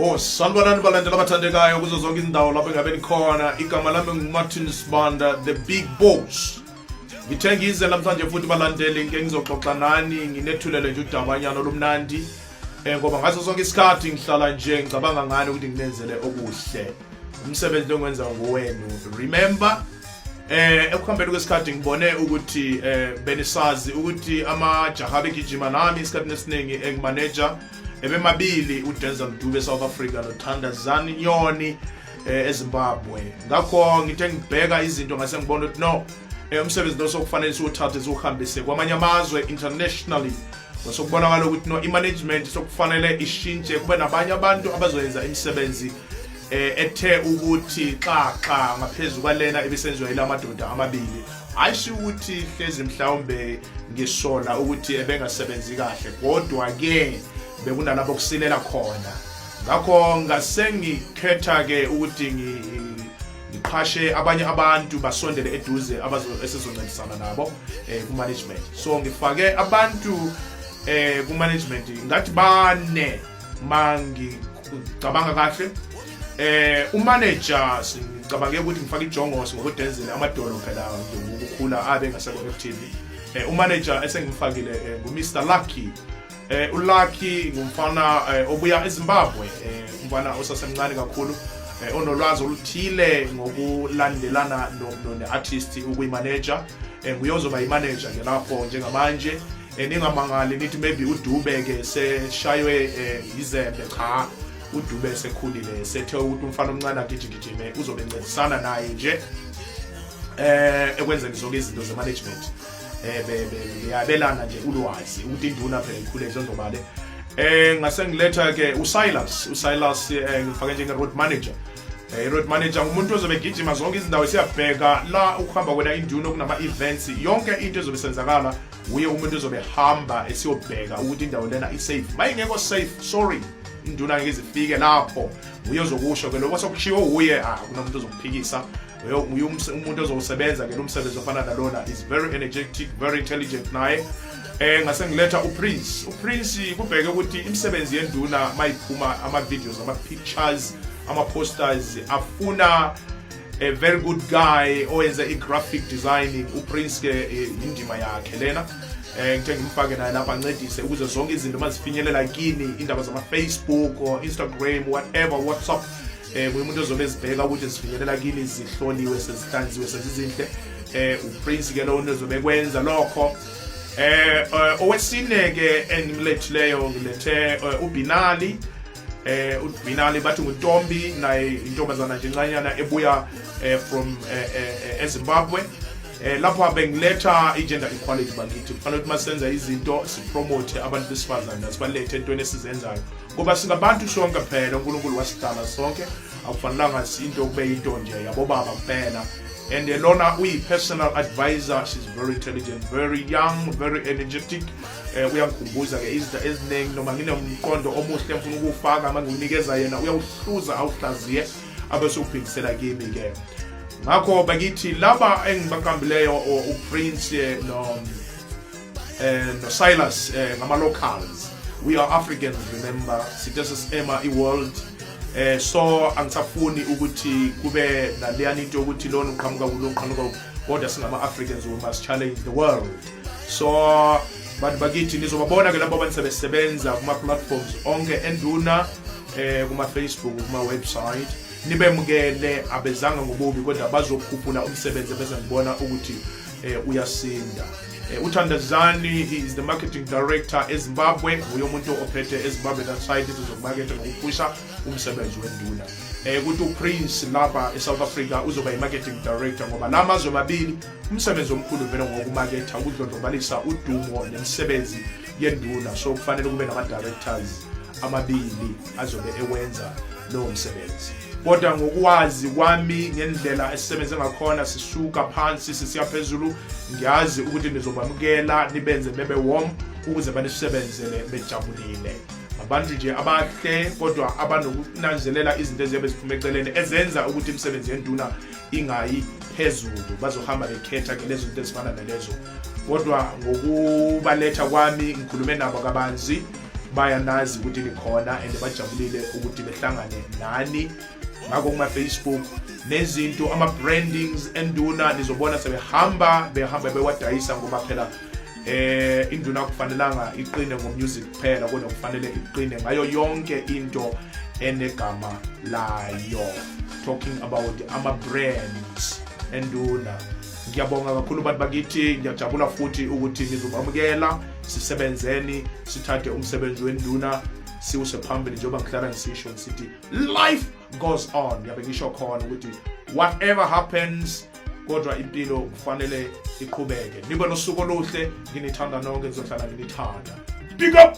Oh, sanibonani balandela abathandekayo kuzo zonke izindawo lapho engabe nikhona igama lami ngumartin sibanda the big boss ngithe ngize namhlanje futhi balandeli ngike ngizoxoxa nani nginethulele nje udabanyana olumnandi Eh ngoba ngaso sonke isikhathi ngihlala nje ngicabanga ngani ukuthi nginenzele okuhle. Umsebenzi lo ngwenza ngowenu. Remember eh ekuhambeni kwesikhathi ngibone ukuthi eh benisazi ukuthi amajaha begijima nami isikhathi nesiningi engimanager ebemabili uDenzel Dube South Africa noThanda Zani Nyoni eh, eZimbabwe ngakho ngithe ngibheka izinto ngase ngibona ukuthi no eh, umsebenzi lo sokufanele siwuthathe siwuhambise kwamanye amazwe internationally Sokubonakala ukuthi no imanagement sokufanele ishintshe kube nabanye abantu abazoyenza imisebenzi eh ethe ukuthi xaxa ngaphezulu kwalena ebisenziwa ilamadoda amabili ayisho ukuthi hlezi mhlawumbe ngisola ukuthi ebengasebenzi kahle kodwa ke bekunalapho kusilela khona ngakho ngasengikhetha ke ukuthi ngiqhashe abanye abantu basondele eduze esizoncedisana nabo eh, ku-management so ngifake abantu eh, ku-management ngathi bane ma ngicabanga kahle eh umanager sicabange ukuthi ngifake ijongosi ngokudenzile amadolo phela ngokukhula abe ngasekho-ftv eh, umanager esengimfakile eh, ngumr lucky Eh uLucky ngumfana eh, obuya eZimbabwe eh umfana osasemncane kakhulu eh, onolwazi oluthile ngokulandelana ne-artist ukuyimanager eh, nguye ozoba yimanager ke lapho njengamanje eh, ningamangali nithi maybe udube ke seshaywe eh, yizembe cha udube esekhulile sethe ukuthi umfana omncane agijigijime uzobe ncedisana naye nje eh ekwenzeni zonke izinto zemanagement eh beyabelana nje ulwazi ukuthi induna phela ikhule izondobale eh ngase ngiletha ke uSilas uSilas eh, ngifake njenge road manager eh road manager umuntu ozobe gijima zonke izindawo siyabheka la ukuhamba kwena induna kunama events yonke into ezobe senzakala uye umuntu ozobe hamba esiyobheka ukuthi indawo lena i safe mayingekho safe sorry induna ngeke izifike lapho uye ozokusho ke lokho sokushiwo uye ah kunomuntu ozokuphikisa uye umuntu ozowusebenza ke lomsebenzi ofana nalona is very energetic very intelligent naye eh ngase ngiletha uprince uprince kubheke ukuthi imisebenzi yenduna mayiphuma ama-videos ama-pictures ama-posters afuna a very good guy owenza i-graphic designing uprince ke eh, indima yakhe lena eh ngithe ngimfake naye lapha ancedise ukuze zonke izinto mazifinyelela kini indaba zama-facebook or instagram whatever whatsapp eh kuye umuntu ozobe ezibheka ukuthi zifinyelela kini zihloliwe sezihlanziwe sezizinhle eh uprince ke lowo ozobe kwenza lokho eh, eh owesine ke engimlethileyo ngilethe eh, ubinali eh ubinali bathi ngutombi naye intombazana nje ncanyana ebuya eh, from ezimbabwe eh lapho bengiletha i-gender equality bakithi kufanele ukuthi masenza izinto sipromote abantu besifazane asibalethe entweni esizenzayo ngoba singabantu sonke phela unkulunkulu wasidala sonke akufanelanga sinto kube yinto nje yabobaba kuphela and lona uyi-personal advisor she's very intelligent very young very energetic um uyangikhumbuza ke izinto eziningi noma nginomqondo omuhle ngifuna ukuwufaka uma ngiwunikeza yena uyawuhluza awuhlaziye abe sewubhekisela kimi ke ngakho bakithi laba engibaqambileyo uprince no and eh, Silas eh, ngama locals we are Africans remember sithe sesema i world eh so angisafuni ukuthi kube naleyani into yokuthi lona uqhamuka kulo uqhamuka kodwa singama Africans we must challenge the world so bantu bakithi nizobabona ke labo abanisebenza kuma platforms onke enduna eh kuma Facebook kuma website nibemukele abezanga ngobubi kodwa bazokhuphula umsebenzi bese ngibona ukuthi eh uyasinda Eh, uthandazani is the marketing director ezimbabwe nguye umuntu ophethe ezimbabwe that side izinto zokumakethe nokuphusha umsebenzi wenduna um eh, kuthi uprince lapha esouth africa uzoba yi-marketing director ngoba la mazwe mabili umsebenzi omkhulu vele ngokumaketha ukudlondlobalisa udumo nemisebenzi yenduna so kufanele kube nama-directors amabili azobe ewenza lowo msebenzi kodwa ngokwazi kwami ngendlela esisebenze ngakhona sisuka phansi sisiya phezulu ngiyazi ukuthi nizobamukela nibenze bebe warm ukuze banisebenzele bejabulile abantu nje abahle kodwa abanokunanzelela izinto eziyabe ziphuma eceleni ezenza ukuthi imisebenzi yenduna ingayi phezulu bazohamba bekhetha ke lezo zinto ezifana nalezo kodwa ngokubaletha kwami ngikhulume nabo kabanzi bayanazi ukuthi nikhona and bajabulile ukuthi behlangane nani ngakho kuma-facebook nezinto ama-brandings enduna nizobona sebehamba behamba bewadayisa ngoba phela eh induna kufanelanga iqine ngomusic kuphela kodwa kufanele iqine ngayo yonke into enegama layo talking about ama-brands enduna ngiyabonga kakhulu bantu bakithi ngiyajabula futhi ukuthi nizobamukela sisebenzeni sithathe umsebenzi wenduna siwuse phambili njengoba ngihlala ngisisho ngisithi life goes on ngiyabe ngisho khona ukuthi whatever happens kodwa impilo kufanele iqhubeke nibe nosuku oluhle nginithanda nonke ngizohlala nginithanda big up